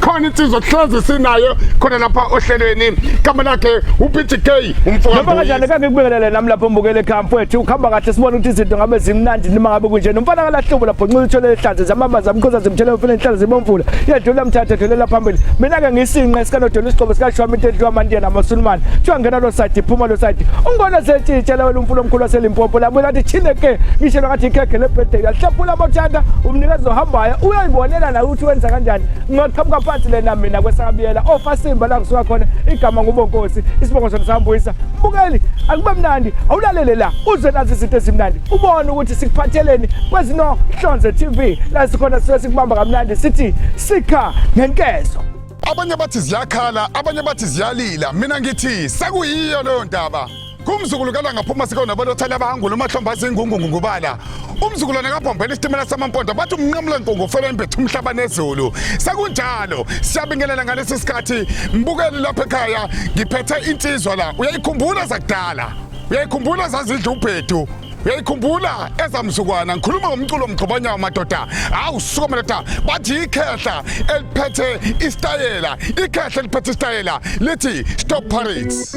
khona insizwa kuhlezi sinayo khona lapha ohlelweni kama lakhe uPTK umfoka Noma kanjani kake kubelele nami lapho mbukele ekhaya mfowethu ukhamba kahle sibona ukuthi izinto ngabe zimnandi noma ngabe kunje nomfana kalahlubo lapho nxila uthole ihlazo zamama zamkhoza zimthele umfana inhlalo zibomvula yedlula mthatha dlulela phambili mina ke ngisinqa esikanodela isigqobo sikashwami into edliwa amandiya namasulumane kuthiwa ngena lo side iphuma lo side ungibona setshitshela wena umfula omkhulu waselimpopo labuye lathi chine ke ngishelwa ngathi ikhekhe lebirthday uyalihlaphula amathanda umnikeza ohambayo uyayibonela nawe ukuthi wenza kanjani ngingaqhamuka phansi lena mina kwesakabiyela ofasimba oh, la ngisuka khona igama ngubonkosi isibongo sona sambuyisa mbukeli akube mnandi awulalele la uze nazi izinto ezimnandi ubone ukuthi sikuphatheleni kwezinohlonze tv la sikhona sisuke sikubamba kamnandi sithi sikha ngenkezo abanye bathi ziyakhala abanye bathi ziyalila mina ngithi sekuyiyo leyo ndaba kumzukulu kalangaphuma sikonabalothela abahangula umahlomba azingungungu ngubala umzukulwane kabhombela isitimela samampondo bathi umnqamula nkungu ufeleni bethu umhlaba nezulu sekunjalo siyabingelela ngalesi sikhathi mbukeli lapha ekhaya ngiphethe insizwa la uyayikhumbula zakudala uyayikhumbula zazidla ubhedu uyayikhumbula ezamzukwana ngikhuluma ngomculo mgxobanyawo madoda hawu suka madoda bathi ikhehla eliphethe isitayela ikhehla eliphethe isitayela lithi stop parades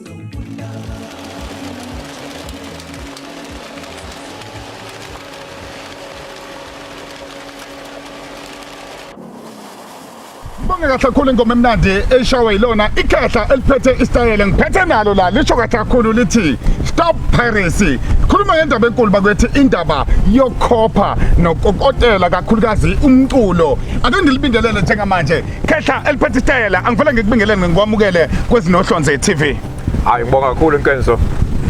ngibonge kahle kakhulu ingoma emnandi eshawe yilona ikhehla eliphethe isitayela ngiphethe nalo la lisho kahle kakhulu lithi stop piracy khuluma ngendaba enkulu bakwethi indaba yokhopha nokokotela kakhulukazi umculo ake ngilibingelele njengamanje Khehla eliphethe isitayela angifela ngikubingelele ngikwamukele kwezinohlonze TV. Hayi ngibonga kakhulu Nkenzo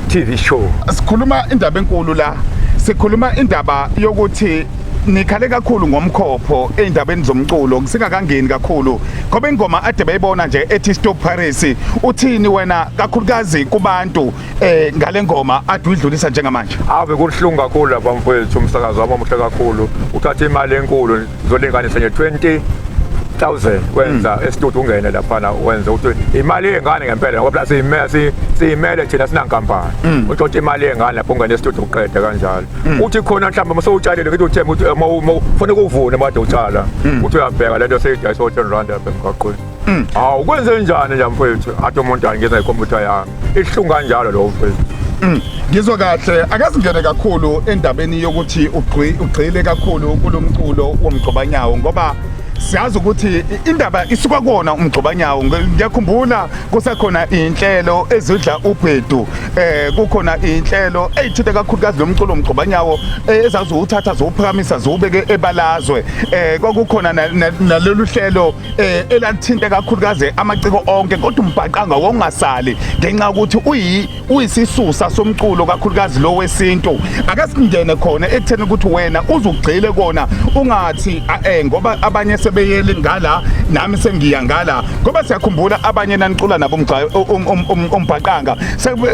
TV show. Sikhuluma indaba enkulu la. Sikhuluma indaba yokuthi nikhale kakhulu ngomkhopho eindabeni zomculo kusingakangeni kakhulu ngoba ingoma ade bayibona nje ethi Stop Paris uthini wena kakhulukazi kubantu eh ngale ngoma adwidlulisa njengamanje awu bekuhlungu kakhulu lapha mfowethu umsakazi wami omuhle kakhulu uthatha imali enkulu zolinganisa nje 20 1000 wenza hmm. estudio ungene laphana wenza ukuthi imali yengane ngempela ngoba plus imesi simele thina sinankampani hmm. uthola imali yengane lapho ungene estudio uqede kanjalo hmm. uthi khona mhlawumbe uma sewutshalile ngithi uthemba ukuthi uma ufuna ukuvuna made utshala uthi uyabheka lento seyidayisa u10 rand lapha emgaqweni Mm. Hawu kwenze njani nje mfethu? Athi umuntu angena ikhompyutha yami. Ihlungu kanjalo lo mfethu. Mm. Ngizwe kahle akazingene kakhulu endabeni yokuthi ugxile kakhulu kulomculo womgcobanyawo ngoba siyazi ukuthi indaba isuka kona umgxobanyawo ngiyakhumbula kusekhona inhlelo ezidla ubhedu eh kukhona inhlelo eyithinte kakhulukazi lomculo umgxobanyawo eh, ezazi uthatha zowuphakamisa zowubeke ebalazwe eh kwakukhona nalolu hlelo eh elathinta kakhulukazi amaciko onke kodwa umbhaqanga wongasali ngenxa ukuthi uyi uyisisusa somculo kakhulukazi lo wesintu akasingene khona ekutheni ukuthi wena uzugxile kona ungathi eh ngoba abanye sebeyeli ngala nami sengiya ngala ngoba siyakhumbula abanye nanicula nabo umgxayo um, um, um, umbhaqanga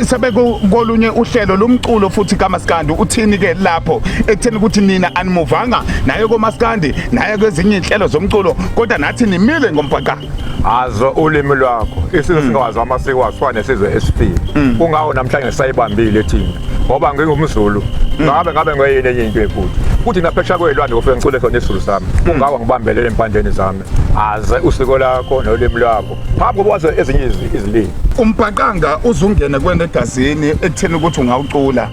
sebekolunye uhlelo lomculo futhi kamaskandi uthini ke lapho ekutheni ukuthi nina animuvanga naye komaskandi naye kwezinye inhlelo zomculo kodwa nathi nimile ngombhaqa azo ulimi lwakho isizwe mm. singawazi amasiko asifane nesizwe esifile mm. kungawo namhlanje sayibambile thina ngoba ngingumzulu mm. ngabe ngabe ngoyini enye into efuthi kuthi naphesha kwelwandle kufike ngicule khona isizulu sami kungawa ngibambelele empandeni zami aze usiko lakho nolimi lwakho phambi kokuba waze ezinye izilimi umbhaqanga uzungene kwena egazini ekutheni ukuthi ungawucula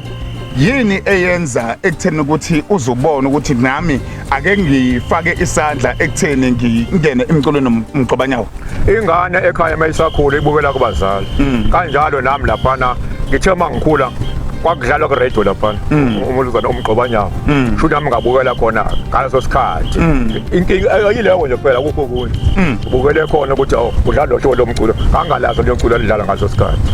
yini eyenza ekutheni ukuthi uzubone ukuthi nami ake ngifake isandla ekutheni ngingene emculweni nomgcobanyawo ingane ekhaya mayisakhula ibukela kubazali mm. kanjalo nami laphana ngithe uma ngikhula kwakudlalwa kuradio laphana mm. umuluzana umgcobanyawo mm. shuthi nami ngabukela khona ngaleso sikhathi inkinga yileyo nje kuphela kukho kunye ubukele khona ukuthi oh, udlala lo hlobo lomculo angalazi lomculo alidlala ngaleso sikhathi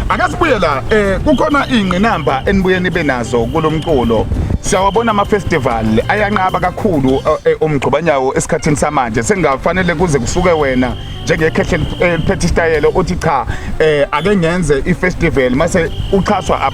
Ake sibuye la eh kukhona ingqinamba enibuye nibe nazo kulomculo siyawabona ama-festival ayanqaba kakhulu eh, eh, umgxubanyawo esikhathini samanje sengafanele kuze kusuke wena njengekhehle eliphethe isitayelo uthi cha um ake ngenze i-festival mase uxhaswa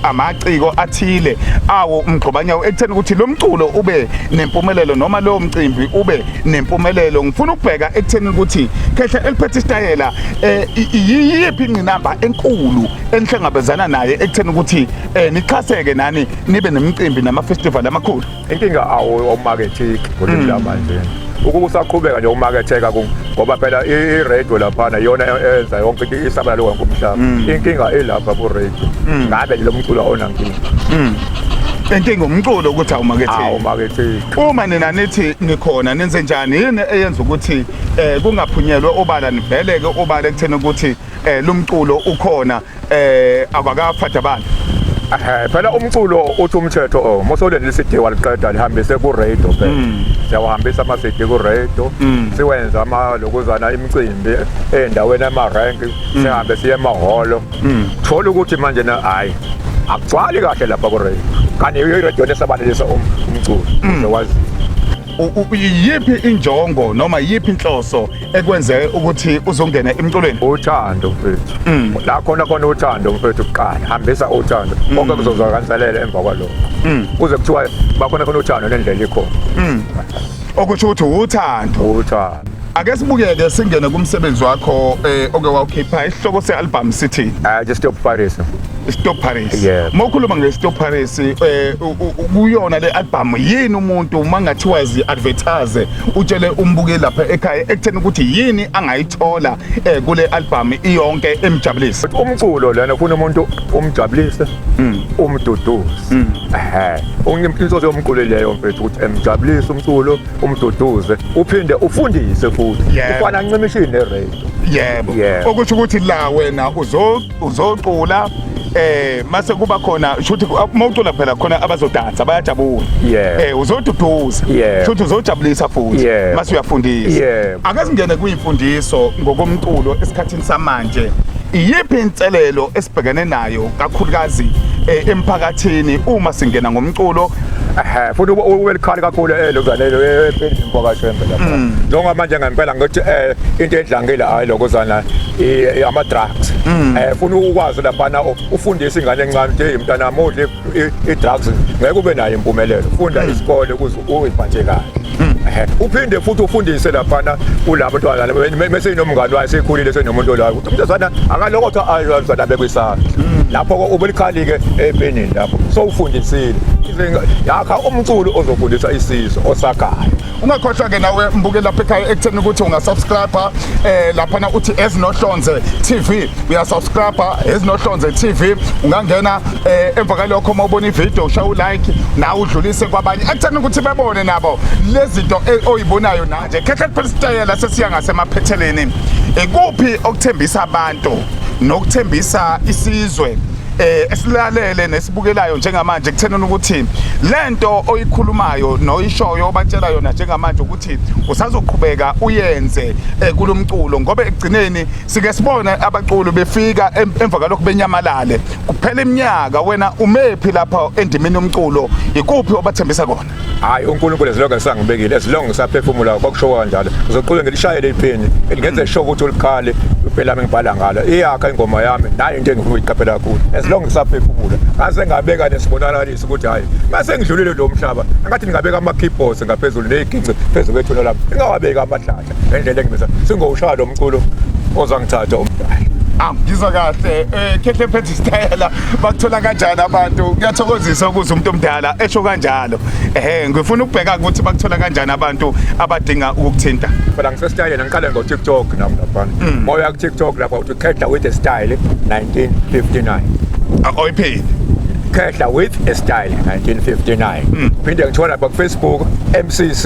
amaciko athile awo umgxubanyawo ekutheni ukuthi lo mculo ube nempumelelo noma lowo mcimbi ube nempumelelo ngifuna ukubheka ekutheni ukuthi khehle eliphethe isitayela eh iyiphi ingqinamba enkulu enihlangabezana naye ekutheni ukuthi eh nixhaseke nani nibe nemicimbi nama festival amakhulu inkinga awu omarketing kulimi lamanje ukuba usaqhubeka nje umaketheka ngoba phela i-radio laphana iyona enza yonke into isabela lo wonke umhlaba mm. inkinga ilapha ku-radio mm. ngabe lo mculo awunankinga mm. inkinga umculo ukuthi awumaketheki uma nina nithi nikhona nenze njani yini eyenza ukuthi eh kungaphunyelwe ubala nivele ke ubala ekutheni ukuthi eh lumculo ukhona eh abakaphatha abantu Eh, phela umculo uthi umthetho oh, mosoleni lisidi waliqeda lihambise ku-radio phela mm. siyawahambisa amasidi ku-radio mm. siwenza ama lokuzana imicimbi ey'ndaweni ama-rank mm. sihambe siye emahholo thola ukuthi manje na hhayi akugcwali kahle lapha ku-radio kanti yiyo iradiyo lesabalelisa um, umculo wazi yiphi injongo noma yiphi inhloso ekwenze ukuthi uzongena emculweni uthando mfethu mm. la khona khona uthando mfethu kuqala hambisa uthando mm. konke kuzozwakanselela emva kwalokho mm. kuze kuthiwa bakhona khona uthando nendlela ikhona okusho ukuthi uthando uthando Ake sibukeke singene kumsebenzi wakho eh oke wawukhipha isihloko sealbum sithi I just stop Paris. Stop Paris. Yeah. Mokhuluma nge Stop Paris eh u- u- u- kuyona le album yini umuntu mangathiwa zi advertise utshele umbuke lapha ekhaya ekutheni ukuthi yini angayithola eh kule album iyonke emjabulisa. Umculo lana ufuna umuntu umjabulise, umduduze. Ehhe. Unginto yomculo leyo mfethu ukuthi emjabulise umculo, umduduze uphinde ufundise futhi Yebo. ufana ncimishini neradio yebo Yebo. okusho ukuthi la wena uzo- uzocula eh mase kuba khona shuthi uma ucula phela khona abazodansa bayajabula Yebo. eh uzoduduza Yebo. shuthi uzojabulisa futhi Yebo. mase uyafundisa Yebo. akasingene kuyimfundiso ngokomculo esikhathini samanje iyiphi inselelo esibhekene nayo kakhulukazi eh, emphakathini uma singena ngomculo Ehhe, futhi ube- ube likhali kakhulu elo zanelo empeleni mfokashembe lapha Mm. njengoba manje ngempela ngokuthi eh into edlangile hayi lokho zana i- i- ama drugs Mm. eh funa ukwazi laphana u- ufundise ingane encane ukuthi hey mntana mudli i-drugs ngeke ube nayo impumelelo funda hmm. isikole ukuze uyiphathe kahle hmm. uphinde futhi ufundise laphana kulabo ntwana mese inomngani wayo sekhulile senomuntu olayo ukuthi umntazana akalokotho azana bekwisana hmm. lapho ubulikhali-ke epenini lapho sowufundisile yakha umculo ozofundisa isizwe osagayo ungakhohlwa-ke nawe mbukeli lapha ekhaya ekutheni ukuthi ungasubscribe um eh, laphana uthi ezinohlonze tv uyasubscribe ezinohlonze tv ungangena um eh, emva kalokho uma ubona ividiyo usha ulike nawe udlulise kwabanye ekutheni ukuthi bebone nabo le zinto e, oyibonayo nanje khehla kuphela isitayela sesiya ngasemaphetheleni ikuphi okuthembisa abantu nokuthembisa isizwe eh esilalele nesibukelayo njengamanje kuthenini ukuthi lento oyikhulumayo noyishoyo obatshela yona njengamanje ukuthi usazoqhubeka uyenze eh, kulomculo ngoba ekugcineni sike sibone abaculi befika emva kalokho benyamalale kuphela iminyaka wena umephi lapha endimini yomculo ikuphi obathembisa kona hayi uNkulunkulu ezilonge ngisangibekile ezilonge ngisaphefumula kwakusho kanjalo ngizoqhubeka ngilishayele iphini ngenze sho ukuthi ulikhale impela ngibhala ngalo iyakha ingoma yami nayo into engifuna uyiqaphela kakhulu ezilonge ngisaphefumula ngase ngabeka nesibonakaliso ukuthi hayi ngase ngidlulile lo mhlaba ngathi ngingabeka ama keyboards ngaphezulu neziginci phezulu kwethuna lami ngingawabeka amahlala ngendlela engimisa singowushaya lo mculo ozangithatha umdali Ah, ngizwa kahle eh khehle phethe isitayela bakuthola kanjani abantu kuyathokozisa ukuze umuntu omdala esho kanjalo ehe ngifuna ukubheka ukuthi bakuthola kanjani abantu abadinga ukukuthinta phela ngisesitayela ngiqale ngo TikTok nami lapha mm. moya ku TikTok lapha uthi khehla with a style 1959 akoyiphini khehla with a style 1959 mm. phinde ngithola lapha ku Facebook MCC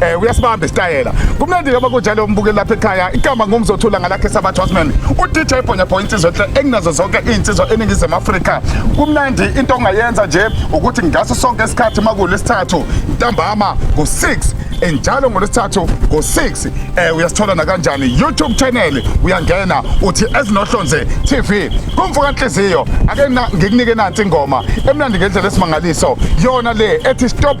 eh uyasibamba isitayela kumnandi ke bakunjalo umbukeli lapha ekhaya igama ngumzothula ngalakhe sabathu wasman uDJ Bhonya Bhonya insizwa enhle enginazo zonke izinsizwa eningizimu Afrika kumnandi into ongayenza nje ukuthi ngaso sonke isikhathi makule isithathu ntambama ngo6 enjalo ngolwesithathu ngo6 eh uyasithola nakanjani YouTube channel uyangena uthi ezinohlonze TV kumvuka inhliziyo ake ngikunike nansi ingoma emnandi ngendlela esimangaliso yona le ethi stop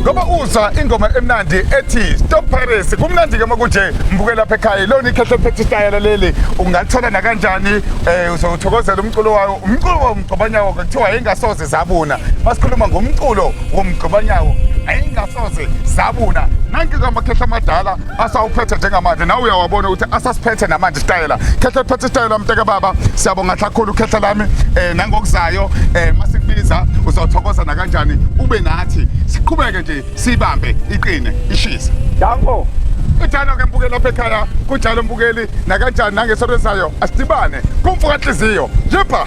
ngoba uzwa ingoma emnandi ethi stop paris kumnandi ke makunje mbuke lapha ekhaya ilona ikhehle phethe isitayela leli ungalithola nakanjani um uzowuthokozela umculo wayo umculo womgcobanyawo ke kuthiwa yayingasoze zabuna masikhuluma ngomculo womgcobanyawo ayingasoze zabuna nanke kamakhehla amadala asawuphethe njengamanje nawe uyawabona ukuthi asasiphethe namanje isitayela khehla phethe isitayela mnteka baba siyabonga kakhulu khehla lami eh nangokuzayo eh masikubiza uzothokoza nakanjani ube nathi siqhubeke nje sibambe iqine ishisa danko ithanda ke mbukeli lapha ekhaya kunjalo mbukeli nakanjani nangesonto ezayo asidibane kumfuka nhliziyo yipha